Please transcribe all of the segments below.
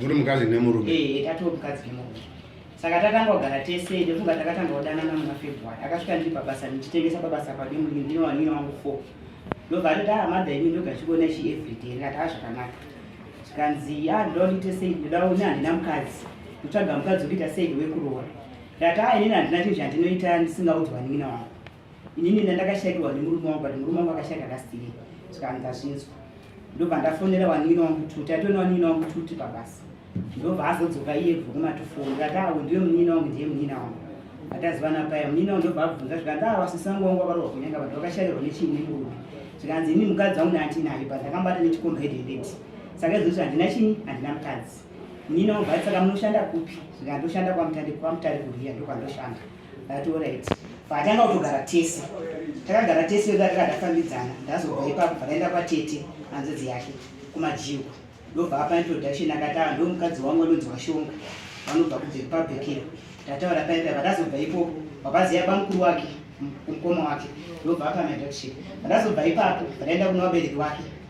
muri mukadzi nemurume eh, eh, tatoo mukadzi nemurume saka takanga kugara tese ndofunga takatanga kudanana muna february akasvika ndiri pabasa ndichitengesa pabasa pade mudini ndine wanina wangu four ndobva atoti aa ah, madha ini ndoga chikuona chi everyday ndikati aa zvakanaka zvikanzi ya ah, ndoda ndiite sei ndoda une handina mukadzi ndotsvaga mukadzi wekuita sei wekuroora ndati aa ah, inini handina chinhu chandinoita ndisingaudzwa nin'ina wangu inini ndandakashaiwa nemurume wangu but murume wangu akashaika kasitiri saka ndazvinzwa ndobva ndafonera wanini wangu kuti taitona wanini wangu kuti pabasa ndobva azodzoka iye bva kumatofoni ndikati awo ndiwe munini wangu ndiye munini wangu atazivana paya munini wangu ndobva abvunza zvikanzi awa sisi wangu wangu wakarohwa kunyanga vanhu vakashairwa nechiini murume zvikanzi ini mukadzi wangu naatinayo but akambata nechikomba hedendeti saka izvozvi handina chini handina mukadzi munini wangu bvatisaka munoshanda kupi zvikandoshanda kwamutari kuriya ndokwandoshanda ndationa iti patanga kutogara tese takagara tese vega takadafambidzana ndazobva ipapo pakaenda kwatete anzodzi yake kumajiwa ndobva apa introduction akataura ndo mukadzi wangu anonzi washonga vanobva kudzepabhekero ndataura paipa vandazobva ipopo vabaziya bamukuru wake kumukoma wake ndobva apa maintroduction vandazobva ipapo vandaenda kuna vabereki wake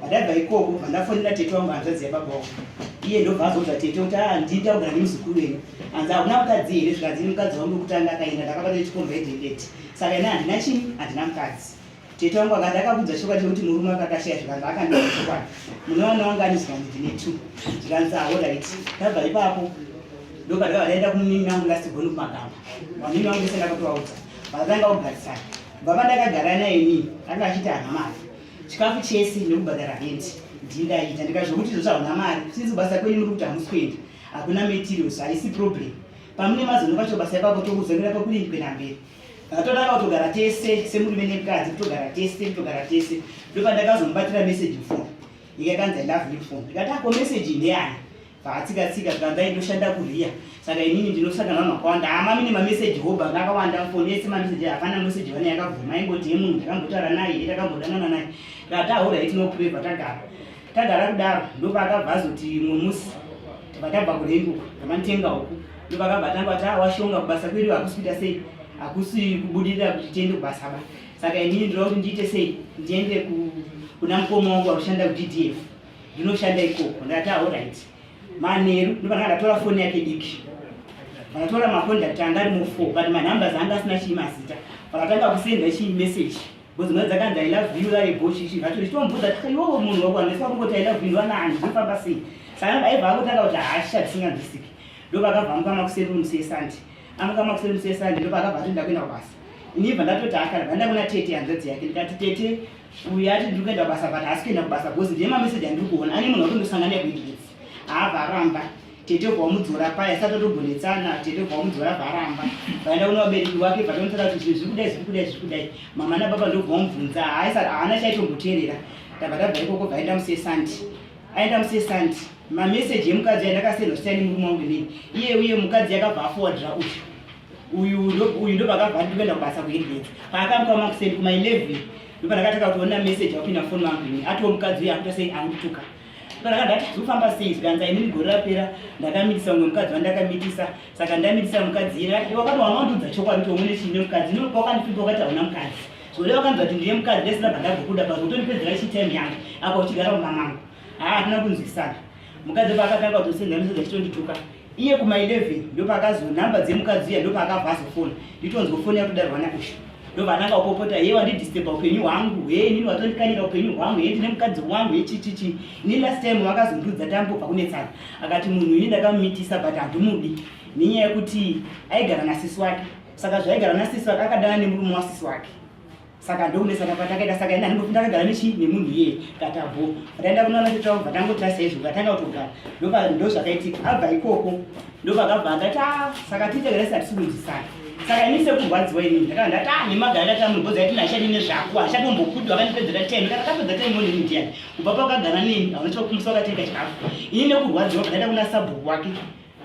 Pandabva ikoko pandafonera tete wangu hanzvadzi yababa wangu iye ndobva azodza tete kuti a ah, ndida kugara nemuzukuru wenyu hanzi hakuna mukadzi here zvikanzi nemukadzi wangu wekutanga akaenda ndakabata nechikomba edhedeti saka ina handina chini handina mukadzi tete wangu akati akakudza chokwadi chekuti murume akakashaya zvikanzi akandiona chokwadi munowana wangu ani zvikanzi ndine two zvikanzi ahorit ah, ndabva ipapo ndoka ndakabva ndaenda kumunini wangu lastigoni kumagamba manini wangu ese ndakatovaudza vakatanga kugarisana baba ndakagara naye nini anga achiti hana mari chikafu chese nekubhadhara hendi ndindaita ndikazvokuti izvo zvahuna mari sinzi basa kwenyu muri kuti hamusi kuenda hakuna materials haisi problem pamune mazono vacho basa ipapo tokuzongera pakurini kuenda mberi atonaka kutogara tese semurume nemukadzi kutogara tese kutogara tese ndopandakazomubatira message mfoni ikakanzi i love you mfoni ndikati ako message ndeyani Patsika tsika kandai ndoshanda kuriya. Saka inini ndinosanga navanhu vakawanda. Ah mami nemameseji hoba akawanda mfoni yese mameseji hapana meseji vane yakabvuma aingoti yemunhu takambotaura naye takambodanana naye. Kati ahura iti no pray patagara. Tagara kudaro ndopakabva azoti mumwe musi tabva kurengo tamanitenga uku ndopakabva atanga kuti ah washonga kubasa kwedu hakusi kuita sei hakusi kubudirira kuti tiende kubasa ba. Saka inini ndinoda kuti ndiite sei ndiende kuna mukoma wangu anoshanda kuDDF. ndinoshanda ikoko ndati aorit manheru ndopana ndatora foni yake diki vakatora macondact anga ari mufo but manumbers anga asina chii mazita vakatanga kusenda chii message bcause mwana dzakanzi i love you lave gochi chii vatori chitomubvudza iwowo munhu wakuandisa kungoti i love you vanani zvinofamba sei saka aiva akutanga kuti hasha dzisinganzwisiki ndopakabva amuka makuseri romusi yesande amuka makuseri romusi yesande ndopakabva atoenda kuenda kubasa inibva ndatoti akara vandakuna tete hanzvadzi yake ndikati tete uyu ati ndiri kuenda basa but haasi kuenda kubasa bcause ndiye mameseji andiri kuona ane munhu wakundosangana yekuigetsi haavaramba tete vwa wamudzora paya sati atogonetsana tete vwa wamudzora varamba vaenda kuna vabereki wake vatomutsara kuti zvinhu zviri kudai zviri kudai zviri kudai mama nababa ndobva wamubvunza haaisa haana chaitomboteerera tabva tabva ikoko vaenda musesandi aenda musesandi mameseji emukadzi aindakasendwa siyani murume wangu inini iye uye mukadzi yakabva afowadira uyu uyu uyu ndopakabva ndikuenda kubasa kuhedhedzi paakamuka makuseni kuma 11 ndopandakataka kuona message akupinda foni mangu ini atiwo mukadzi uye akuita sei angutuka ndopandakandati zvofamba sei zvikanza inini gore rapera ndakamitisa umwe mukadzi wandakamitisa saka ndamitisa mukadzi ira wakati wanga wandiudza chokwadi kuti umune chiine mukadzi ino wakandipinda wakati hauna mukadzi zvoreva kanzi vati ndiye mukadzi ndesina bhandagokuda pazotondipedzera chitime yangu apa uchigara kumamama haa hatina kunzwisana mukadzi paakatanga kuzosenzanisoda chitondituka iye kuma 11 ndopakazo nhamba dzemukadzi uya ndopaakabva azofona nditonzwa foni yakudarwa nakusha ndobva ananga kupopota heye wandidisturba upenyu hwangu heye inini watondikanira upenyu hwangu heye ndine mukadzi wangu hechichichi ini last time wakazondiudza tambobva kunetsana akati munhu ini ndakamumitisa but handimudi nenyaya yekuti aigara nasisi wake saka zvaigara nasisi wake akadana nemurume wasisi wake saka ndoune saka patakaita saka ina ndinofunda kagara nechi nemunhu iye katabo pataenda kunoona tete wangu patangoita saizvo patanga kutogara ndopa ndo zvakaitika abva ikoko ndopakabva akati a ah, saka tiite gara sati sikunzisana saka ini sekurwadziwa ini ndakava ndati a ah, nemagara ndati amugoza ati nashati nezvako hashati umbokudu akanipedzera time kana kapedza time one ndiani kubva pakagara neni anochokumusa wakateka chikafu ini nekurwadziwa pataenda kuna sabhuku wake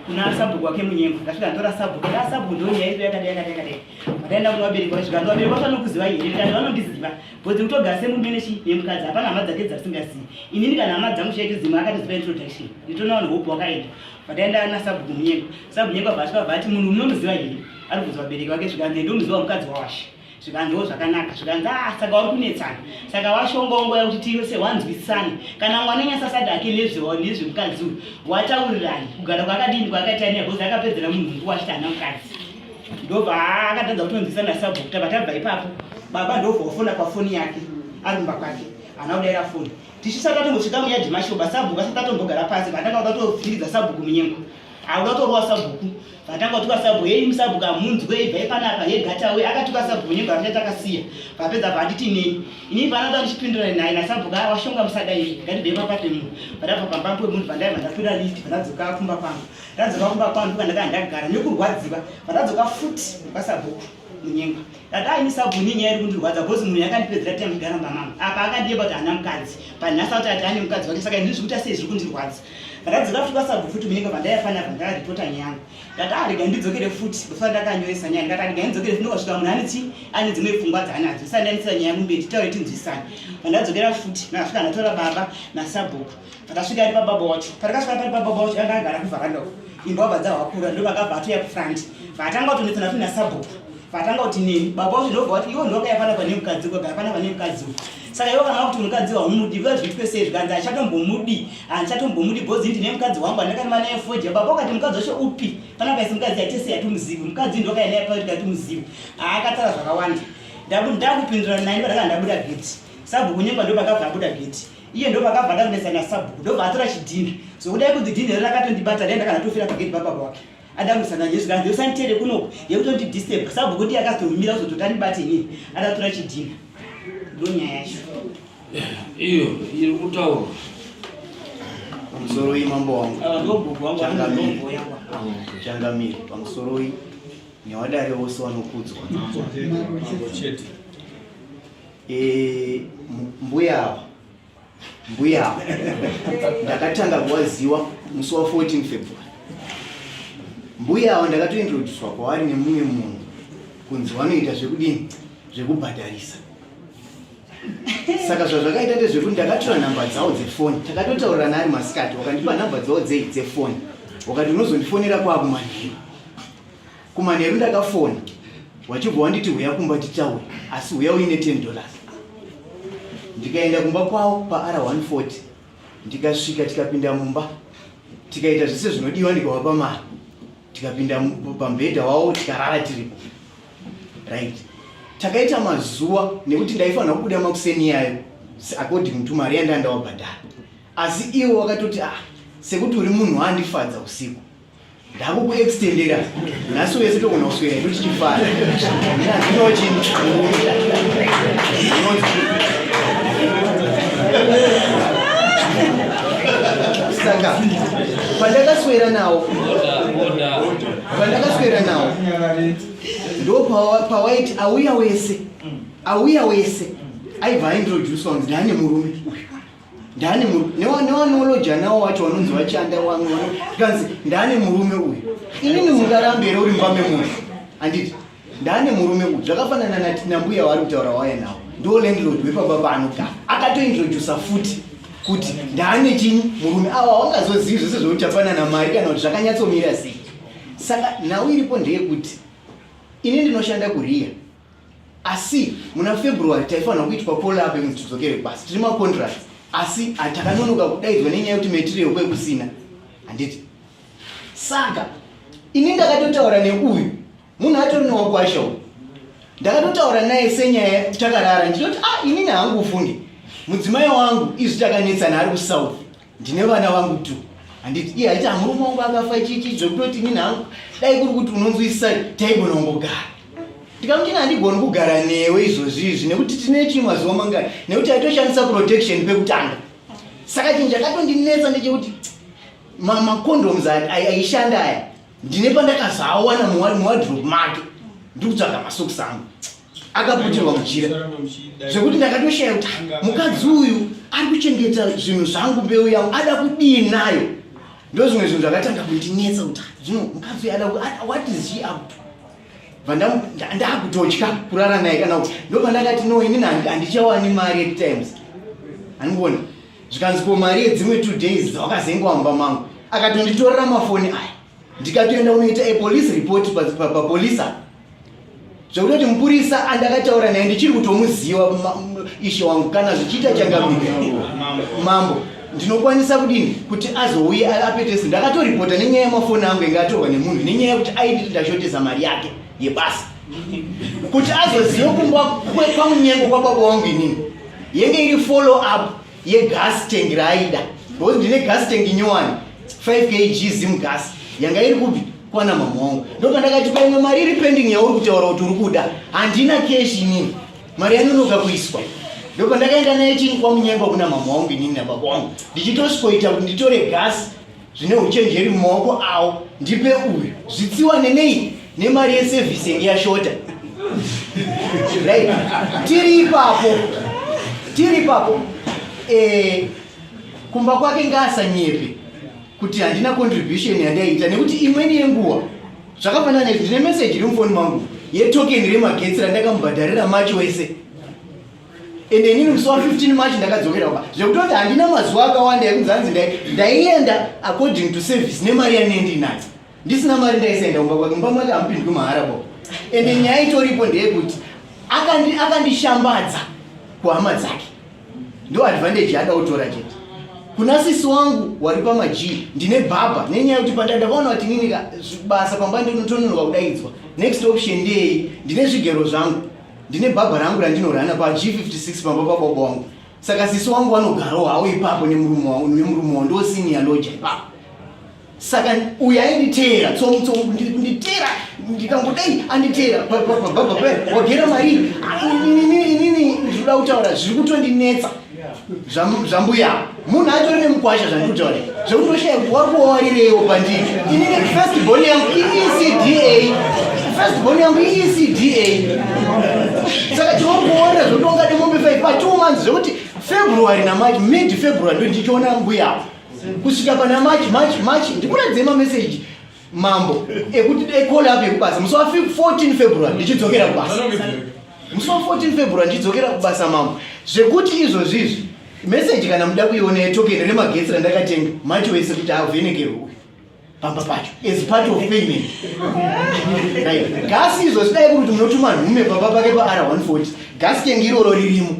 kuna sabhuku wake munyengo ndasvika ndora sabhuku nda sabhuku ndoni yaive yakadai yakadai yakadai vakaenda kuna vabereki vasvika ndo vabereki vafanokuziva here ndikati vanondiziva bhozi kutogara semumenechi nemukadzi hapana hama dzake dzasingazivi inini kana hama dzangu chaito dzimwe akatoziva introduction nditona vanhu hope wakaenda vakaenda ana sabhuku munyengo sabhuku nyengo vavasvika vati munhu munomuziva here ari kubvunza vabereki vake zvikanzi ndomuziva mukadzi wawashe zvikanzi wo zvakanaka zvikanzi a ah, saka uri kunetsana saka washongongo yakuti tive se wanzwisisane kana mwana nyasasati ake nezvemukadzi uyu wataurirani kugara kwakadini kwakaita neya bhozi akapedzera munhu nguva achiti ana mukadzi ndobva akatadza kutonzwisana sabhukuta vatabva ipapo baba ndobva wafona pafoni yake ari mumba kwake ana kudaira foni tichisati atongosvika muyadhi mashoba sabhuku asati atombogara pasi vatanga kuda kutofiridza sabhuku munyengo akuda kutorowa sabhuku Vatanga kutuka sabhu hei musabhu kamunzwe ibvai panapa he gata we akatuka sabhu wenyu bvamita takasiya vapedza bhanditi nei ini vana vandichipindura naye nasabhu kaa washonga musada iri ngatibvei pamba pemunhu vandabva pamba pemunhu vandai vandapinda list vandadzoka kumba pangu ndadzoka kumba pangu kandaka ndagara nekurwadziva vandadzoka futi kwasabhuku munyengwa ndadai nisabhu nyenya iri kundirwadza bhozi munhu yakandipedzera time kugara mbamama apa akandiyeba kuti hana mukadzi panhasi auti ati ane mukadzi wake saka ini zvikuita sei zviri kundirwadza ndakadzoka futi kwasabu futi munenge pandaifanira bva ndakaripota nyaya yangu ndati arega ah, ndidzokere futi before ndakanyoresa nyaya ndikati arega ah, ndidzokere futi ndokasvika munhu aniti ane dzimwe pfungwa dzaanadzo isandanisira nyaya yangu mberi titaure tinzwisane pandadzokera futi ndakasvika ndatora baba nasabhuku ndakasvika ari pababa wacho pandakasvika pari pababa wacho anga agara kuvharanda uko imba wabva dzahwakura ndovakabva atoya kufront vaatanga kutonetsana futi nasabhuku vatanga kuti nini baba kuti ndobva kuti iwo ndoka yapana pane mukadzi koga yapana pane mukadzi uyu saka iwo kana kuti mukadzi wahumudi vika zviitwe sei zvikanzi achatombomudi handichatombomudi bhozi ndine mukadzi wangu andakama naye foja baba ukati mukadzi wacho upi pana kaisi mukadzi yatese yatimuzivi mukadzi ndoka yanaye pakuti yatimuzivi haakatara zvakawanda ndakupindura nani padaka ndabuda geti sabhuku nyemba ndo pakabva abuda geti iye ndo pakabva ndakunetsana sabhuku ndobva atora chidhinha zvokuda so, kuti dhinha rakatondibata dai ndakanatofira pageti bababa wake Adamu sana Jesu kana Jesu antere kunoku yekuti ndi disturb sababu kuti akatomira kuzotota ndibati ni atatura chidina ndonya yacho iyo iri kutaura pamusoro iyi mambo wangu ah, ndogogo wangu ndogogo yangu ah, changamire pamusoro iyi nyawadare wose wanokudzwa chete eh mbuya ava mbuya ndakatanga kuwaziwa musi wa 14 february mbuya awo ndakatointroduswa kwavari nemumwe munhu kunzi wanoita zvekudini zvekubhadharisa saka zvazvakaita ndezvekuti ndakatora nhamba dzawo dzefoni takatotaurirana ari masikati wakandipa nhamba dzawo dzei dzefoni wakati unozondifonera kwaakumanheru Kumanheru ndakafona wachibva wanditi huya kumba tichawe asi huya uine 10 dollars ndikaenda kumba kwavo paR140 ndikasvika tikapinda mumba tikaita zvese zvinodiwa ndikavapa mari tikapinda pambhedha wavo tikarara tiripo right takaita mazuva nekuti ndaifanira kubuda makuseni iyayo according to mari yandandawabhadhara asi iwo wakatoti ah sekuti uri munhu waandifadza usiku ndakukuextendera nhasi wese togona kuswera idu tichifara saka pandakaswera nawo pandakaswera nawo ndo pawaiti auya wese auya wese aibva aintroduce wanzi ndane murume uyu ndani newanoloja nawo wacho wanonzi vachanda wamwe tikanzi ndani murume uyu inini mungarambe here uri mumba memunhu handiti ndani murume uyu zvakafanana nati nambuya waari kutaura waya nawo ndo landlord wepamba paanogara akatointrodusa futi kuti ndani chini murume awa wangazozivi zvese zvekuti afanana mari kana kuti zvakanyatsomira sei saka nhau iripo ndeyekuti ini ndinoshanda kuriya asi muna february taifanira kuitwa polabe kuti tidzokere kubasa tiri macontract asi takanonoka kudaidzwa nenyaya yekuti material kwe kusina handiti saka ini ndakatotaura neuyu munhu atori newakwasha uyu ndakatotaura naye senyaya takarara ndinoti a ah, inini hangu ufunge mudzimai wangu izvi takanetsana ari kusouth ndine vana vangu tu handiti iye haiti amurume wangu akafa chichi zvekutoti nini hangu dai kuri kuti unonzwisisa taigona ungogara ndikamuti ina handigoni kugara newe izvozvi izvi nekuti tine chii mazuva mangani nekuti aitoshandisa protection pekutanga saka chinhu chakatondinetsa ndechekuti macondoms aishanda aya ndine pandakazoawana muwadrop make ndikutsvaga masokisi angu akaputirwa muchira zvekuti ndakatoshaya kuti mukadzi uyu ari kuchengeta zvinhu zvangu mbeu yangu ada kudii nayo ndozvimwe zvinhu zvakatanga kundinetsa kuti zvino mukadzi uyu ada what is she up to ndakutotya kurara naye kana kuti ndoba ndakati no ini handichawani mari at times andiona zvikanzi ko mari yedzimwe two days dzawakazengowamba mangu akatonditorera mafoni aya ndikatoenda unoita apolice report papolisa pa, pa, pa, zvekutoti mupurisa andakataura naye ndichiri kutomuziva ishe wangu kana zvichiita changamire mambo ndinokwanisa kudini kuti azouye apetese ndakatoripota nenyaya yemafoni angu inge atorwa nemunhu nenyaya yekuti aidii ndashotesa mari yake yebasa kuti azozive kumba kwamunyengo kwababa wangu inini yenge iri follow up yegas tank raaida because ndine gas tank nyowani 5 kg zim gas yanga iri kupi kwana mama wangu ndopandakati paimwe mari iri pending yauri kutaura kuti uri kuda handina keshi inini mari yanonoka kuiswa ndopandakaenda naye chini kwamunyengwa kuna mama wangu inini nababa wangu ndichitosvikoita kuti nditore gasi zvine uchenjeri mumaoko awo ndipe uyu zvitsiwa nenei nemari yesevhisi yange yashota right tiri ipapo tiri ipapo eh, kumba kwake ngaasanyepe kuti handina contribution yandaiita nekuti imweni yenguva zvakafanana izvi ndine meseji iri mufoni mangu yetokeni remagetsi randakamubhadharira macho wese ende inini musi wa 15 march ndakadzokera kumba zvekutoti handina mazuva akawanda ekunzi hanzi ndaienda according to service nemari yanei ndinayo ndisina mari ndaisaenda kumba kwake mumba mwake hamupindwi mahara bo ende nyaya itoripo ndeyekuti akandishambadza kuhama dzake ndo advantage yaada kutora chete kuna sisi wangu wari pamajii ndine bhabha nenyaya yekuti pandandakaona kuti nini basa pamba ndinotononoka kudaidzwa next option ndeyei ndine zvigero zvangu ndine bhabha rangu randinorana pa G56 pamba pababa wangu saka sisi wangu vanogarawo hawo ipapo nemurume wangu nemurume wangu ndosiniya loja ipapo saka uyu ainditeera tsomutsomu nditeera ndikangodai anditeera pababa pe wagera marii inini ndinoda kutaura zviri kutondinetsa zvambuya munhu atori nemukwasha zvandikutaura zvekutoshaya kuti wari kuwarireiwo pandii ini first born yangu iecda first born yangu iecda saka tiwari kuwarira zvekuti wangade mombe five pa two months zvekuti february namarch mid february ndo ndichiona mbuya kusvika pana march march march ndikuratidze mameseji mambo ekuti dai call up yekubasa musi wa 14 february ndichidzokera kubasa musi wa 14 february ndichidzokera kubasa mambo zvekuti izvozvi izvi meseji kana muda kuiona yetokeni remagetsi randakatenga macho wese kuti avhenekerwe uyu pamba pacho as part of payment gasi izvo zidai kuti munotuma nhume pamba pake pa r 140 gasi tengi iroro ririmo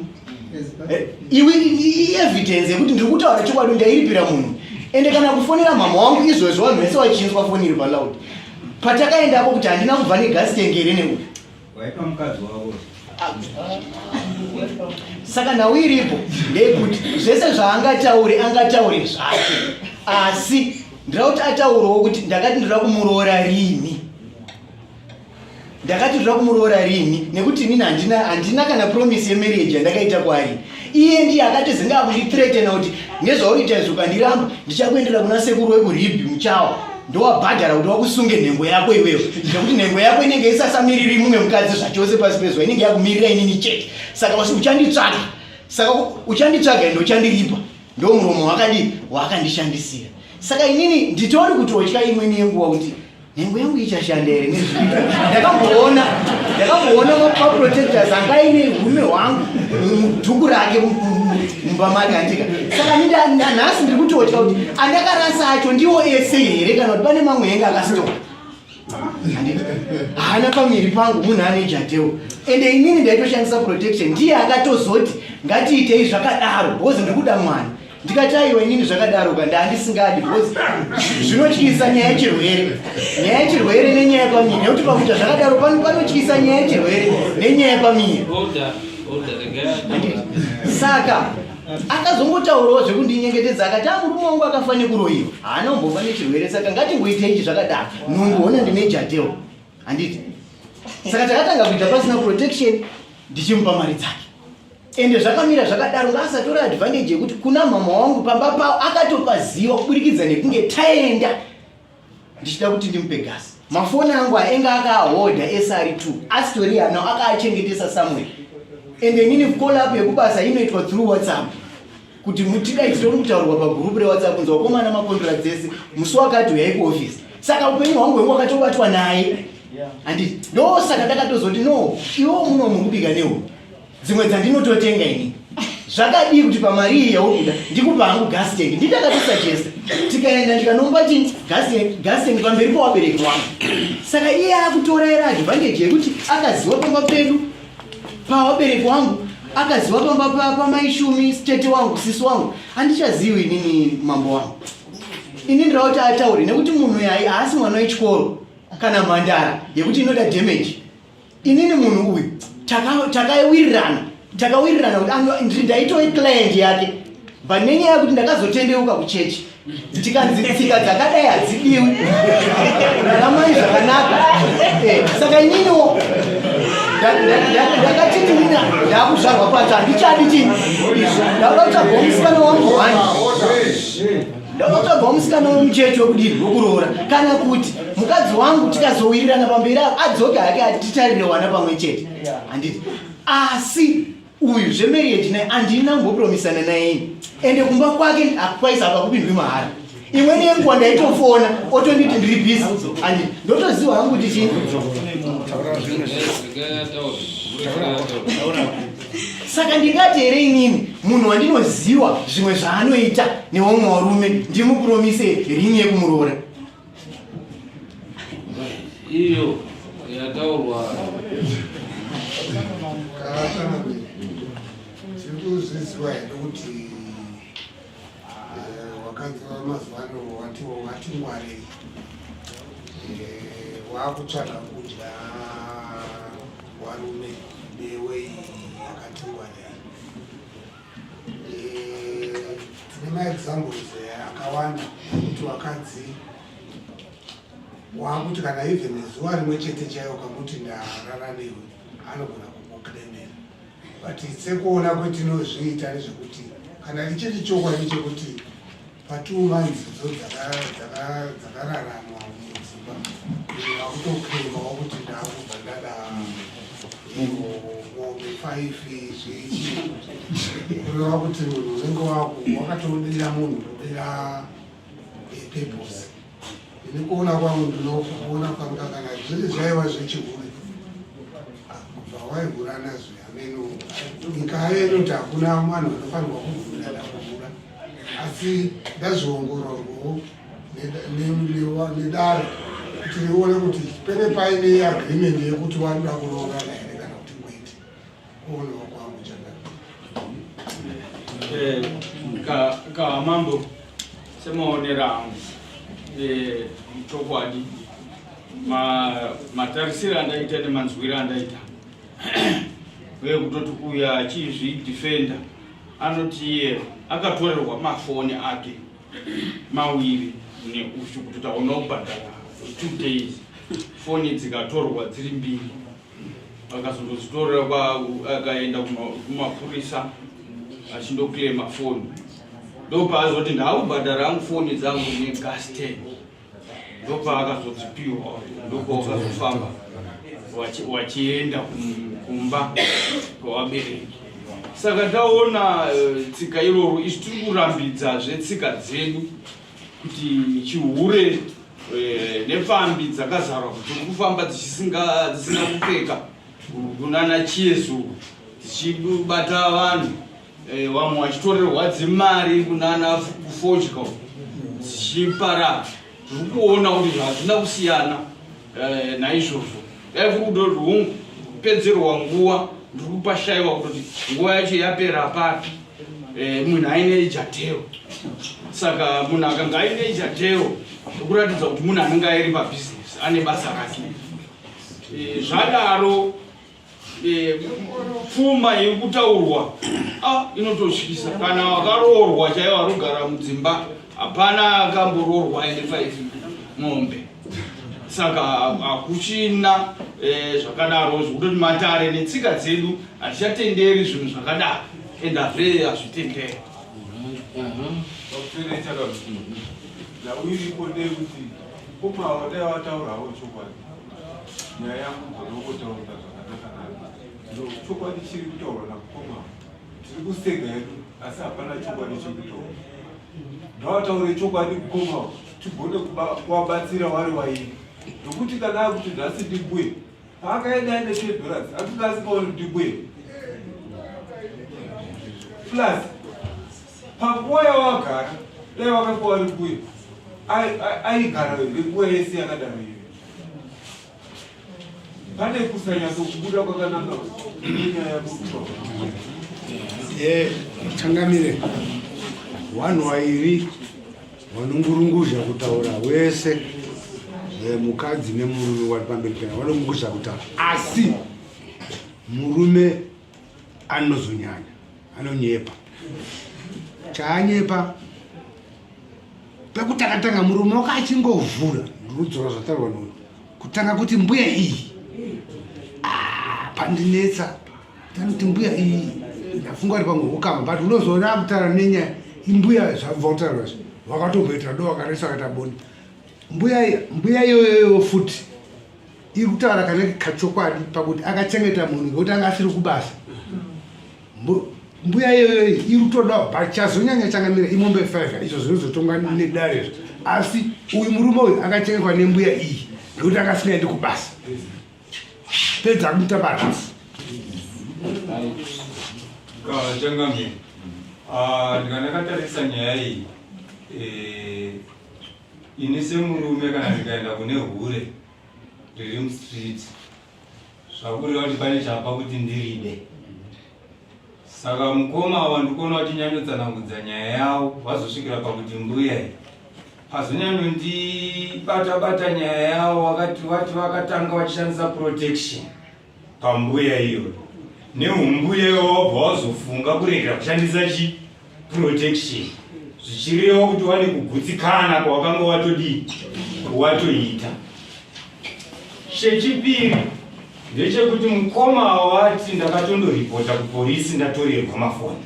Eh, iwe ievidence yekuti ndiri kutaura chokwadi ndairipira munhu ende kana kufonera mhamha wangu izvozvo vanhu vese vachinzwa foni iri paloud patakaendapo kuti handina kubva negasi tengere neuyu ah, saka nhau iripo ndeyekuti zvese zvaangataure angataure zvake asi ndira kuti ataurewo kuti ndakati ndira kumuroora rini ndakati zvoda kumuroora rini nekuti inini handina handina kana promise yemarriage yandakaita kwaari iye ndiye akatizenge akundithreatena kuti nezvauriita izvo ukandiramba ndichakuendera kuna sekuru wekuribhi muchawa ndowabhadhara kuti wakusunge nhengo yako iweyo nekuti nhengo yako inenge isasamiriri mumwe mukadzi zvachose pasi pezuva inenge yakumirira inini chete saka uchanditsvaga saka uchanditsvaga ende uchandiripa ndo muromo wakadii waakandishandisira saka inini nditori kutotya imweni yenguva kuti nhengo yangu ichashanda here nezviita ndakamboona ndakamboona maprotectors anga aine urume hwangu mudhuku rake mumba make handika saka nindanhasi ndiri kutotya kuti andakarasa acho ndiwo ese here kana kuti pane mamwe enge akasitoka haana pamiri pangu munhu ane jatewo ende inini ndaitoshandisa protection ndiye akatozoti ngatiitei zvakadaro bhozi ndiri kuda mwana ndikati aiwa inini zvakadaro ka ndaandisingadi because zvinotyisa nyaya yechirwere nyaya yechirwere nenyaya yepamiri nekuti pakuita zvakadaro pano panotyisa nyaya yechirwere nenyaya yepamiri saka akazongotaurawo zvekundinyengetedza akati amurume wangu akafanira kuroyiwa haana kumbofa nechirwere saka ngatingoita ichi zvakadaro nungu hona ndine jateo handiti saka takatanga kuita pasina protection ndichimupa mari dzake ende zvakamira zvakadaro ngaasatore advantage yekuti kuna mhama wangu pamba pavo akatopaziva kuburikidza nekunge taenda ndichida kuti ndimupe gasi mafoni angu ainge akaahodha ese ari two asitori anawo akaachengetesa somewhere ende inini kolap yekubasa inoitwa through whatsapp kuti mutika itori kutaurwa pagurupu rewhatsapp kunzi wakomana makondora dzese musi wakati huyai kuofisi saka upenyu hwangu hwengu wakatobatwa naye handi ndosaka takatozoti no iwo muno mukubika nehu dzimwe dzandinototenga ini zvakadii kuti pamari iyi yaukuda ndikupa hangu gas tank nditakatisajesta tikaenda ndikanombati gas tank pamberi pawabereki wangu saka iye akutora ere advantage yekuti akaziwa pamba pedu pawabereki wangu akaziwa pamba pamaishumi stete wangu sisi wangu handichaziwi inini mambo wangu ini ndira kuti ataure nekuti munhu yai haasi mwana wechikoro kana mhandara yekuti inoda damage inini munhu uyu takawirirana takawirirana kuti ndaitove client yake but nenyaya yekuti ndakazotendeuka kuchechi tikanzi tsika dzakadai hadzidiwi raramai zvakanaka eh, saka ininiwo ndakatiti mina ndakuzvarwa kwacho handichadi chii izvo ndauda kutsvaga musikana wangu hwani ndokutsvagwa musikana wemuchechi wekudini wekuroora kana kuti mukadzi wangu tikazowirirana pamberi avo adzoke hake ati titarire wana pamwe chete handiti asi uyu zvemarriage naye andina mbopromisana nayeni ende kumba kwake akwaisa pakupindwi mahara imweni yenguva ndaitofona otonditi ndiri bhizi andi ndotoziwa hangu kuti chii saka ndingati here inini munhu wandinoziwa zvimwe zvaanoita newamwe warume ndimupromise ringi yekumuroora iyo yataurwa zvirikuzviziwa here kuti eh, wakanzi vamazuva ano wati wati ngwarei eh, wakutsvaga kudya Warume newe yakatungwa nei? Eh, tine maexamples eh, akawanda kuti wakadzi waakuti kana even zuva rimwe chete chaiyo kakuti ndarara newe anogona kukukremera but sekuona kwetinozviita nezvekuti kana ichiri chokwadi chekuti Pa two months dzo dzakararamwa mudzimba vakutoclaima wakuti ndakubva ndada mombe five zveichi kureva kuti munhu unenge wakatoudira munhu unodira purpose ini kuona kwangu ndinokuona kwanga kana zviri zvaiva zvechihure kubva waihura nazvo ameno nyika yenu kuti hakuna vanhu vanofanirwa kuvhura ndakuvhura asi ndazviongororwawo nedare kuti rione kuti pene paine agreement yekuti wanoda kuroorana here kana kuti kwete kuonewa kwangu chandaka eh, kaamambo semaonera angu eh, chokwadi matarisiro andaita nemanzwiro andaita uye kutoti kuya achizvidefenda anoti iye akatorerwa mafoni ake mawiri neuyu kutoti aona kubhadhara two days foni dzikatorwa dziri mbiri akazongozvitorera akaenda kumapurisa achindoclaima foni ndopaazoti ndaakubhadhara angu foni dzangu negasten ndopavakazodzipiwa ndopavakazofamba wachienda kumba kwavabereki saka taona eh, tsika iroro isu tiri kurambidzazve tsika dzedu kuti chihure eh, nepfambi dzakazarwa kuti kufamba dzisina kupfeka kunana chiezu dzichibata vanhu eh, vamwe vachitorerwa dzimari kunana kufodya dzichiparara tiri kuona kuti hazvina kusiyana Eh, naizvozvo dai kuri kuda kuti hungu kupedzerwa nguva ndiri kupashaiwa kuti nguva yacho yapera papi eh, munhu aine ijateo saka munhu akanga aine ijateo ekuratidza kuti munhu anenge airi pabhizinesi ane basa rake eh, zvadaro Eh, pfuma yekutaurwa ah, inototyisa kana wakaroorwa chaiwo arogara mudzimba hapana akamboroorwa ende five mombe saka hakuchina eh, zvakadaro zvekutoti matare netsika dzedu hatichatenderi zvinhu zvakadaro and hazve hazvitenderi mhm. mhm. Mkoma wadai wataurawo chokwadi nyaya yangu dzonokotaura zvakanaka nani chokwadi chiri kutaurwa namkoma tiri kusega yedu asi hapana chokwadi chiri kutaura ndawataure chokwadi mkoma tigone kuvabatsira wari waini nokuti kana akuti nhasi ndimbuye Paakaenda ende three dollars atuka asikaoni kuti kuye. Plus pakuwa yawagara dai wakakuwa ari kuye aigara nguva yese yakadaro iyo. Pane kusanyatso kubuda kwakananga nenyaya yakutoa. Yeah, changamire. One wairi vanongurunguzha kutaura wese eh, mukadzi nemurume wari pamberi pena vanongurunguzha kutaura asi murume anozonyanya anonyepa chaanyepa pekutakatanga murume wako achingovhura rudzora zvataurwa noyo kutanga kuti mbuya iyi ah, pandinetsa Tanoti mbuya iyi ndafunga ari pamwe hukama but unozoona akutara nenya imbuya zvabvautara zve vakatomboita do vakaresa akaita bonde mbuya mbuya iyoyoyo futi iri kutaura kana kachokwadi pakuti akachengeta munhu ngekuti anga asiri kubasa mbuya iyoyo iri kutoda but chazonyanya changamira imombe five izvo zvinozotongwa nedare zvo asi uyu murume uyu akachengetwa nembuya iyi ngekuti akasingaendi kubasa pedza kuita barasi kachangamire ah, ndikandakatarisa nyaya iyi eh, ini semurume kana ndikaenda kune hure riri mustreet zvakureva kuti pane chapa kuti ndiride Saka mukoma ava ndikuona vachinyanyotsanangudza nyaya yavo vazosvikira pakuti mbuya iyi pazonyanyondibata bata nyaya yavo vakati vati vakatanga vachishandisa protection pambuya iyoyo neumbuya iwo wabva wazofunga kuregera kushandisa chii protection zvichireva kuti wane kugutsikana kwawakanga watodii watoita chechipiri ndechekuti mukoma wawati ndakatondoripota kupolisi ndatorerwa mafoni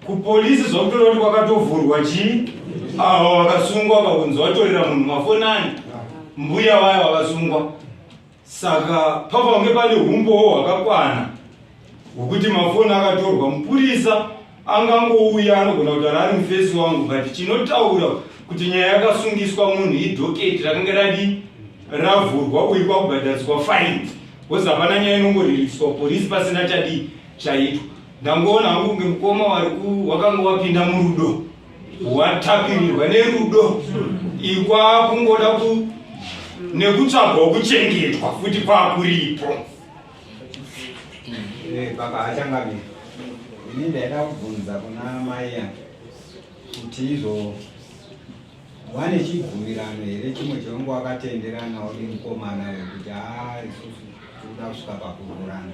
kupolisi zvakutora kuti kwakatovhurwa chii avo vakasungwa vakunzi vatorera munhu mafoni ani mbuya vayo vakasungwa Saka papange pane humbowo hwakakwana hwekuti mafoni akatorwa mupurisa angangouya anogona kutaura ari mufesi wangu but chinotaura kuti nyaya yakasungiswa munhu idhoketi rakange radi ravhurwa uyu kwakubhadhariswa fine bcause hapana nyaya inongoririswa porisi pasina chadii chaitwa ndangoona hangu kunge mukoma wari wakanga wapinda murudo watapirirwa nerudo ikwakungoda ku nekutsvagwa kuchengetwa futi kwakuripo eh, baba hachangamiri ini ndaida kubvunza kuna mai yake kuti izvo wane chibvumirano here chimwe chevanga wakatenderanawo nemukomana wekuti haa isusu tikuda kusvika pakururana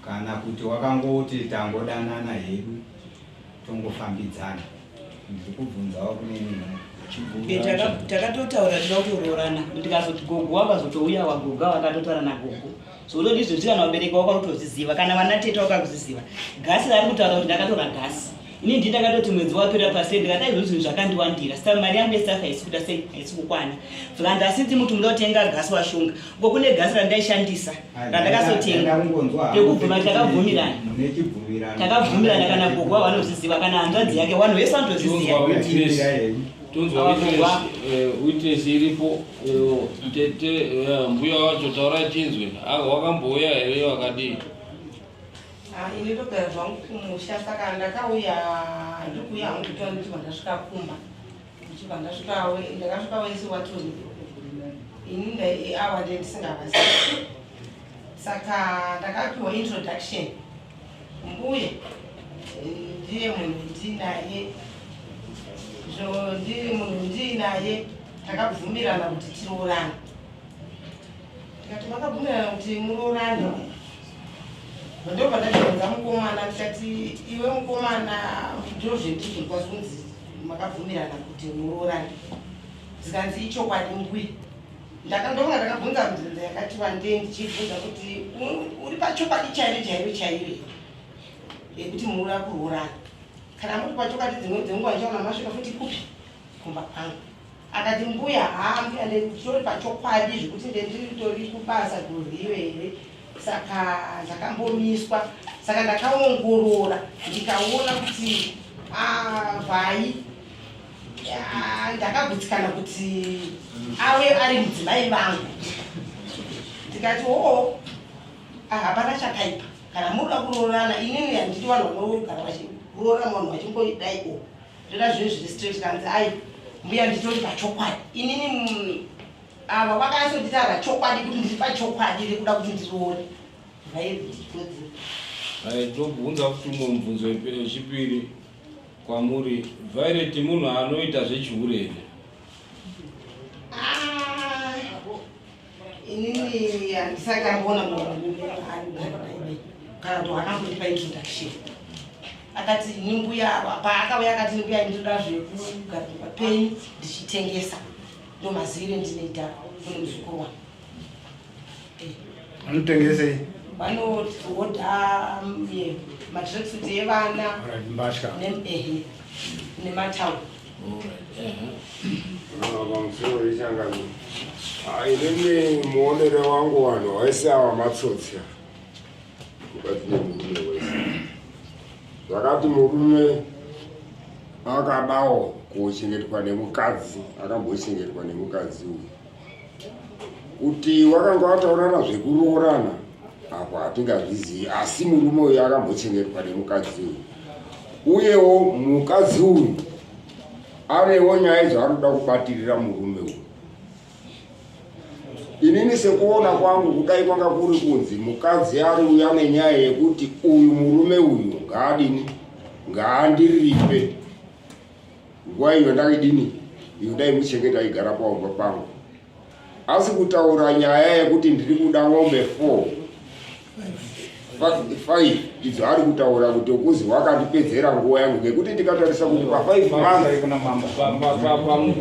kana kuti wakangoti tangodanana hedu tongofambidzana ndikubvunzawo kune nini takatotaura tida kutoroorana ndikazoti gogo wakazotouya wagoga wakatotaura nagogo so utondizvozvi kana vabereki wako utozviziva kana vana teta wakazviziva gasi raari kutaura kuti ndakatora gasi ini ndi ndakatoti mwedzi wapera pasi ndikata izvo zvinhu zvakandiwandira sa mari yangu yesaka haisi kuita sei haisi kukwana flandasinzi muti muda kutenga gasi washunga ko kune gasi randaishandisa randakasotenga pekubvuma takabvumirana takabvumirana kana gogwa wanozviziva kana hanzvadzi yake wanhu vese vanotozviziva witness eh, iripo eh, tete eh, mbuya wacho taurai tinzwe ah, wakambouya here wakadii ah, ini ndogara zvangu kumusha saka ndakauya ndikuuya hangu kutoa ndichibva ndasvika kumba ndichibva ndasvika ndakasvika wese watoni ini awa nde ndisingavazi saka ndakapiwa introduction mbuye ndiye munhu ndiinaye zvo ndiri munhu ndiinaye takabvumirana kuti tiroorane tikati makabvumirana kuti muroorane ndobva ndazvionza mukomana ndikati iwe mukomana ndozvendizvinkwazunzi makabvumirana kuti muroorane zikanzi ichokwadi mbuya ndakandonga ndakabvunza mibvunzo yakati vandei ndichibvunza kuti uri pachokwadi chairo chairo chairo yekuti muroora kuroorana kana muri pachokwadi dzimwe dzenguva ndichaona masvika futi kupi kumba kwangu akati mbuya haa mbuya nditori pachokwadi zvekuti ndendiritori kubasa gurwiyo here saka zvakambomiswa saka ndakaongorora ndikaona kuti vhai ndakagutsikana kuti ave ari mudzimai vangu ndikati oo hapana chakaipa kana muda kuroorana inini handiti vanhu vanogarwa kuroora munhu vachimboidai o zvona zvinhu zviri straight kanzi ai mbuya nditori pachokwadi inini mm, ava vakanyasondita pachokwadi kuti ndiri pachokwadi rekuda kuti ndiroore tobvunza kuti umwe mubvunzo wechipiri kwamuri violet munhu anoita zvechihure here inini handisati amboona munhu kana kuti wakambotipa introduction akati ini mbuya ava paakauya akati mbuya ndinoda zvekugarika penyu ndichitengesa ndomazivire ndinoita kune muzukuru wangu eh. vanotengesei vanohodha mm, matracksuit evana nematauro Inini muonere wangu vanhu vaisi ava matsotsi mukati nemurume wese zvakati murume akadawo kuchengetwa nemukadzi akambochengetwa nemukadzi uyu kuti wakanga wataurana zvekuroorana apo hatingazvizivi asi murume uyu akambochengetwa nemukadzi uyu uyewo mukadzi uyu anewo nyaya dzaanoda kubatirira murume uyu inini sekuona kwangu kudai kwanga kuri kunzi mukadzi ari uyu ane nyaya yekuti uyu murume uyu ngaadini ngaandiripe Nguva iyo ndaidini iyo dai muchenge taigara paumba pangu asi kutaura nyaya yekuti ndiri kuda mombe four five idzo ari kutaura kuti ukuzi wakandipedzera nguva yangu ngekuti ndikatarisa kuti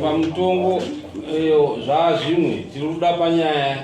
pamutongo zvaa zvimwe tiri kuda panyaya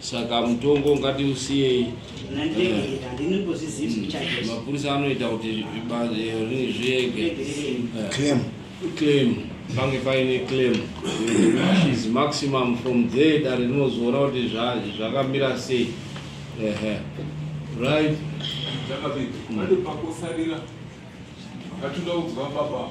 Saka mutongo ngatiusiyei. Mapurisa anoita kuti eh, zviege. Eh. Claim. Claim. Pange paine claim. Is maximum from there dare rinozoona kuti zvakamira sei. Ehe. Right. Zvakabika. Pane pakosarira. Ngatinoudza baba.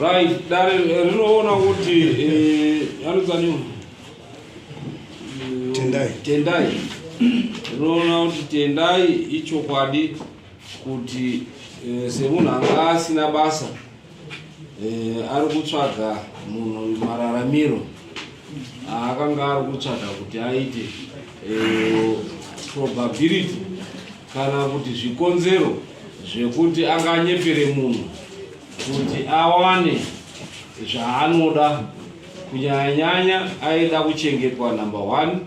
Right, dare eh, rinoona kuti eh, anozani Tendai. Tendai. Rinoona kuti Tendai ichokwadi kuti eh, semunhu anga asina basa ari kutsvaga munhu mararamiro akanga ari kutsvaga kuti aite eh, probability kana kuti zvikonzero zvekuti anganyepere munhu kuti awane zvaanoda kunyanyanyanya aida kuchengetwa number one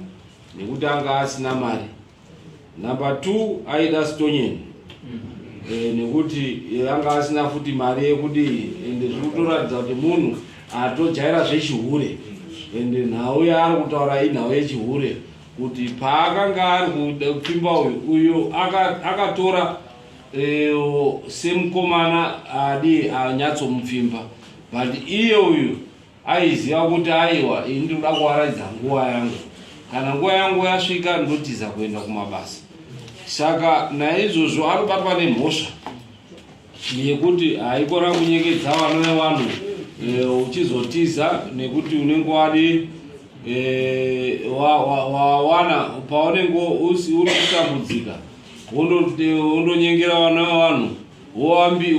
nekuti anga asina mari Number two aida stonyeni e, nekuti yanga asina futi mari yekudii ende zvikutoratidza kuti munhu atojaira zvechihure ende nhau yaari kutaura inhau yechihure kuti paakanga ari kuda kupfimba uyu uyo akatora aka e, semukomana adi anyatsomupfimba but iye uyu Aiziva kuti aiwa ini ndinoda kuaraidza nguva yangu, kana nguva yangu yasvika ndotiza kuenda kumabasa. Saka naizvozvo anobatwa nemhosva yekuti haikona kunyekedza vana vevanhu e, uchizotiza nekuti unenge wadi e, wawana paunenge uri kutambudzika wondonyengera vana vevanhu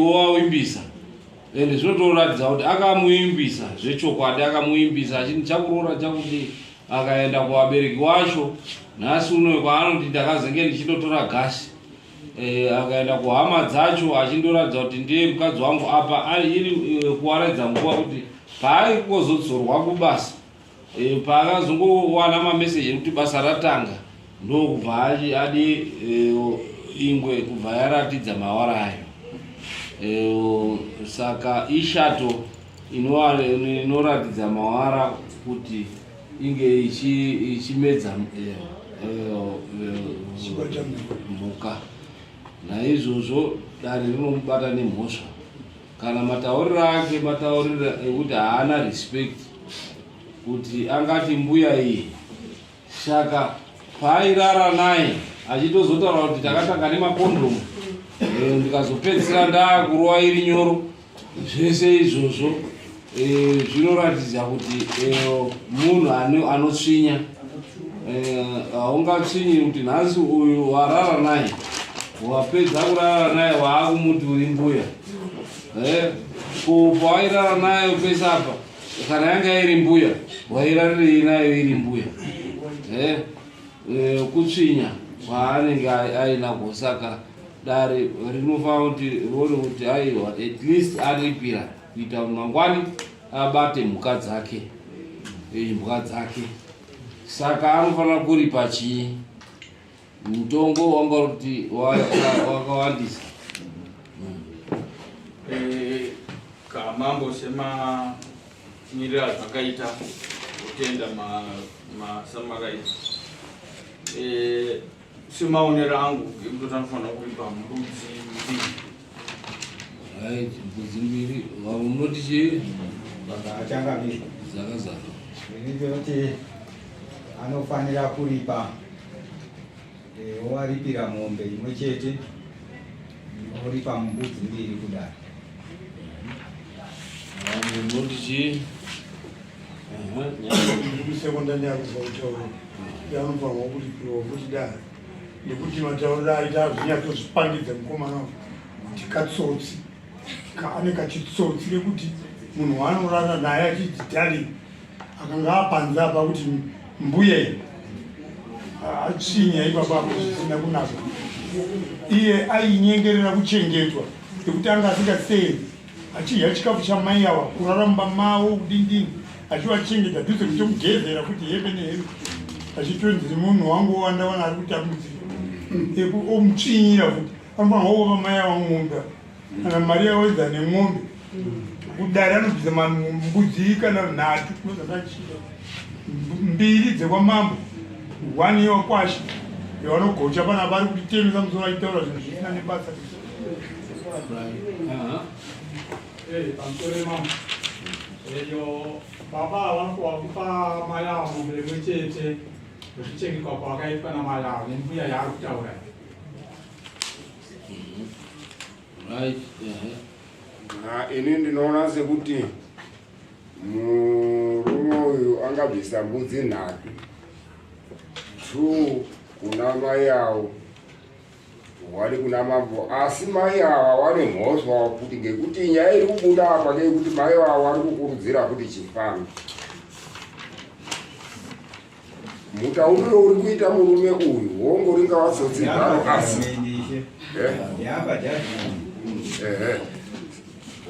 wowawimbisa and zvotoratidza kuti akamuimbisa zvechokwadi akamuimbisa achiti ndichakuroora chakudii akaenda kuvabereki wacho nhasi unoyo kwaanoti ndakazenge ndichitotora gasi e, akaenda kuhama dzacho achindoratidza kuti ndiye mukadzi wangu apa iri e, kuwaradza nguva kuti paaikozodsorwa kubasa e, paakazongowana mameseji ekuti basa ratanga ndokubva adi e, ingwe kubva yaratidza mawara ayo e, saka ishato inoratidza mawara kuti inge ichimedza e, mhuka naizvozvo dare rinomubata nemhosva kana matauriro ake matauriro ekuti haana respect kuti angati mbuya iyi saka paairara naye achitozotaura kuti takatanga nemakondomu eh, ndikazopedzisira ndaakurowa iri nyoro zvese izvozvo E, zvinoratidza kuti e, munhu anotsvinya haungatsvinyi e, kuti nhasi uyu warara naye wapedza kurara naye waakumuti uri mbuya e, ko pawairara naye pese apa kana yanga iri mbuya wairarirei nayo iri mbuya e, e, kutsvinya kwaanenge aina kosaka dare rinofanira kuti rione kuti aiwa at least aripira kuita kuti mangwani abate mhuka dzake imbwa dzake saka anofanira kuripa chii mutongo wanga uri kuti wakawandisa eh, kamambo semamiriro azvakaita kutenda samaraiti eh, Semaonero angu ekuti anofanira kuipa mbudzi mbiri. Right, mbudzi mbiri. Unoti chii? Zvakaachanga bizvo. Zvakazara. Ndinoti anofanira kuripa eh, owaripira mombe imwe chete oripa mbudzi mbiri kudaro. Unoti chii? kusekondari yakuva kutaura yanofanirwa kuripiwa kuti da nekuti mataurira aita azvinyatsozvipangidza mukomana kuti katsotsi kaane kachitsotsi kekuti munhu waanorara naye achidzitari akanga apanza apa kuti mbuya achinya ipapa apo zvisina kunaka iye ainyengerera kuchengetwa nekuti anga asingaseeri achidya chikafu chamai awa kurara mumba mavo kudindini achivachengeta dhuze kutomugezera kuti heve neheve achitonziri munhu wangu wowandawana ari kutambudzika omutsvinyira kuti anofanira wova mai ava mombe kana mari yaoedza nemombe kudari anobvisa mbudzi kana nhatu mbiri dzekwamambo one yewakwasha yavanogocha pana vari kutitemesa musoro achitaura zvinhu zvisina nebasa baba vanokuwa kupa mai avo mombe imwe chete zvichengekwa kwavakaitwa namai avo nembuya yaari kutaura ini ndinoona sekuti murume uyu angabvisa mbudzi nhatu two kuna mai avo wani kuna mambo asi mai ava wani mhoswa kuti ngekuti nyaya iri kubuda apa ngeyekuti mai ava wari kukurudzira kuti chifambi mutauriro uri kuita murume uyu hongo ringava tsotsi garo asi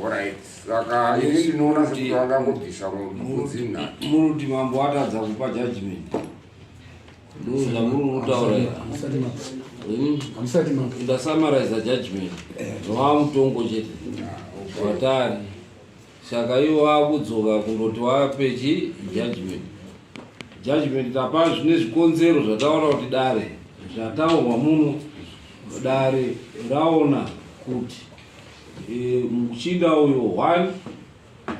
orit saka ini ndinoona sekuti vangangobvisa mudzinha muruti mambo atadza kupa judgment ndasamaraiza judgment zvava mutongo chete vatari saka ivo vakudzoka kundoti vapechi judgment judgment tapa zvine zvikonzero zvataura kuti dare zvataurwa muno dare raona kuti e, muchinda uyo one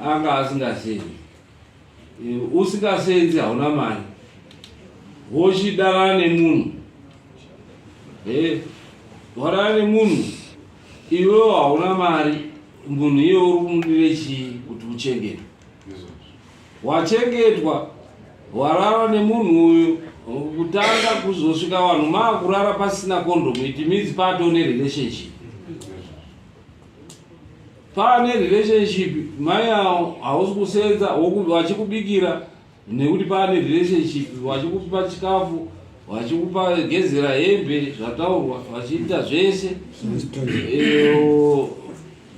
anga asingazivi usikasenzi hauna mari wochidara nemunhu e warara nemunhu iwewo hauna mari munhu iye uri kumudire chii kuti uchengete wachengetwa warara nemunhu uyu kutanga kuzosvika vanhu maakurara pasina kondomu it means pato nerelationship Pane relationship mai awo hausi kusenza wachikubikira nekuti pane relationship wachikupa chikafu vachikupa gezera hembe zvataurwa vachiita zvese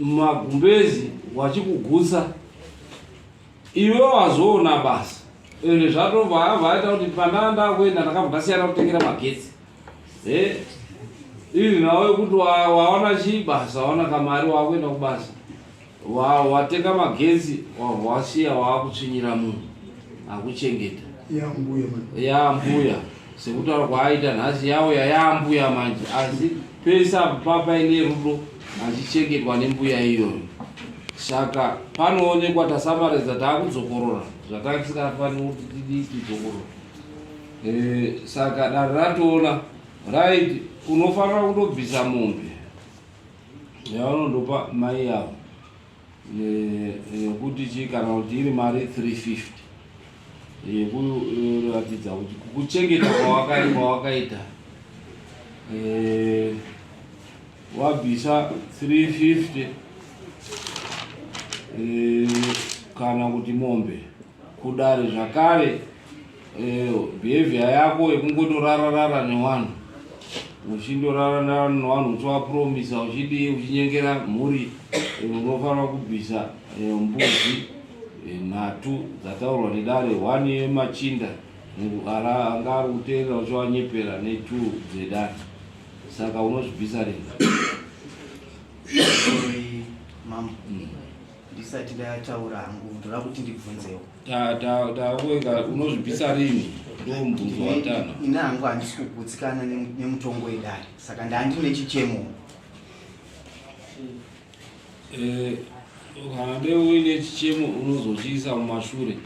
magumbezi vachikugutsa iwe wazoona basa ende zvatobva avaita kuti pandanda kuenda ndakabva ndasiyana kutengera magetsi Eh, iri nawe kuti waona chii basa waona kamari wakuenda kubasa watenga magezi wasiya waakutsvinyira munhu akuchengeta yaambuya sekutaura kwaaita nhasi yauya yaambuya manje asi pese apo papaine rudo achichengetwa nembuya iyoyo saka panoonekwa tasamaridza taakudzokorora zvatange tisikafaniri kuti tidii tidzokorora Eh, saka dare ratoona right unofanira kutobvisa mombe yaunondopa mai yavo yekuti chii kana kuti iri mari 350 yekuratidza kuti kuchengeta kwawakaita eh, wabvisa 350 eh, kana kuti mombe kudare zvakare eh, behavior yako yekungotorararara newanhu uchindorararara newanhu uchiwapromisa uchidii uchinyengera mhuri eh, unofanira kubvisa eh, mbuzi nhatu dzataurwa nedare one yemachinda anga ari kuteerera uchiwanyepera netu dzedare saka unozvibvisa ringa ndisati ndataura hangu ndoda kuti ndibvunzewo taaweka unozvibvisa rini ndo mubvunzo watano ini hangu handisi kugutsikana nemutongo wedare saka ndandi nechichemo eh, kana dei uine chichemo unozochiisa mumashure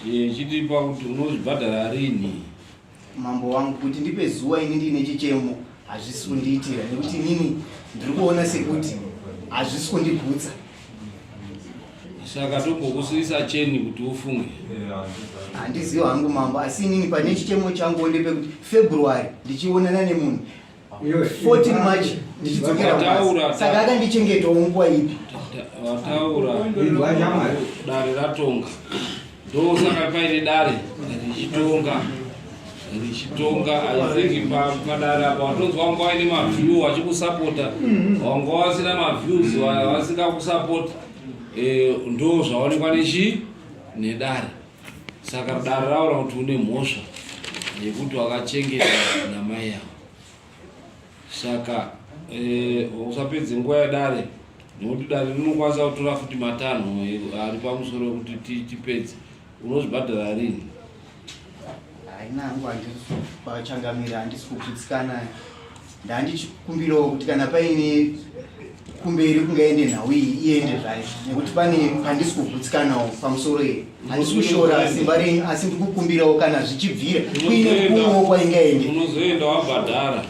eh, chitipa kuti unozvibhadhara rini mambo wangu kuti ndipe zuwa ini ndiine chichemo hazvisi kundiitira nekuti inini ndiri kuona sekuti hazvisi kundigutsa saka togokusuisa cheni kuti ufunge handiziva hangu mambo asi inini pane chichemo changu onde pekuti february ndichionana nemunhu 14 march ndichidzokera kubasa saka akandichengetawo nguva ipi wataura dare ratonga ndosaka paine dare richitonga richitonga aithingi padare apa watonzwa wanga waine maview wachikusapota mm-hmm. wanga wasina maviews wasingakusapota eh, ndo zvaonekwa nechi nedare Saka dare raura kuti une mhosva yekuti wakachengeta namai yavo. Saka eh, usapedze nguva yedare nekuti dare rinokwanisa kutora futi matanho ari pamusoro kuti tipedze. Unozvibhadhara rini? Haina hangu handisi kuchangamira handisi kugutsikana. Ndandichikumbirawo kuti kana paine kumberi kungaende nhau iyi iende zvayo nekuti pane pandisi kugutsikanawo pamusoro iyi handisi kushora simba renyu asi ndikukumbirawo kana zvichibvira kuine kumwewo kwaingaende unozoenda wabhadhara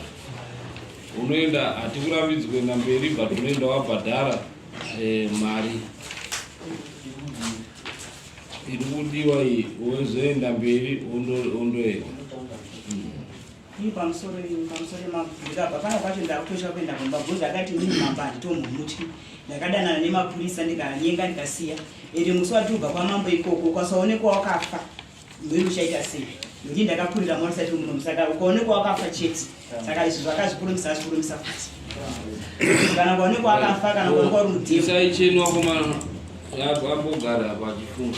unoenda hatikurambidzwi kuenda mberi but unoenda wabhadhara eh, mari iri kudiwa iyi wozoenda mberi ondoenda Ini pamusoro ini pamusoro mabvunza apa panga pacho ndakutosha kuenda kumba bvunza akati mimi mamba handitomumutyi ndakadanana nemapurisa ndikanyenga ndikasiya ende musi watubva kwamambo ikoko ukasaonekwa wakafa mhiri uchaita sei ndii ndakakurira mwana sati muno musaka ukaonekwa wakafa chete saka izvi zvakazvikurumisa azvikurumisa futi kana ukaonekwa wakafa kana ukaonekwa uri mudhimsaichenwa kuma yabwambogara pachifunga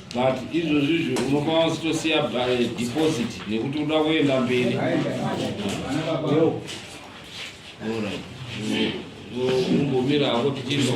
but izvozvi izvo unofa wasitosiya eh, deposit nekuti uda kuenda mberi umbomira hako tichizwa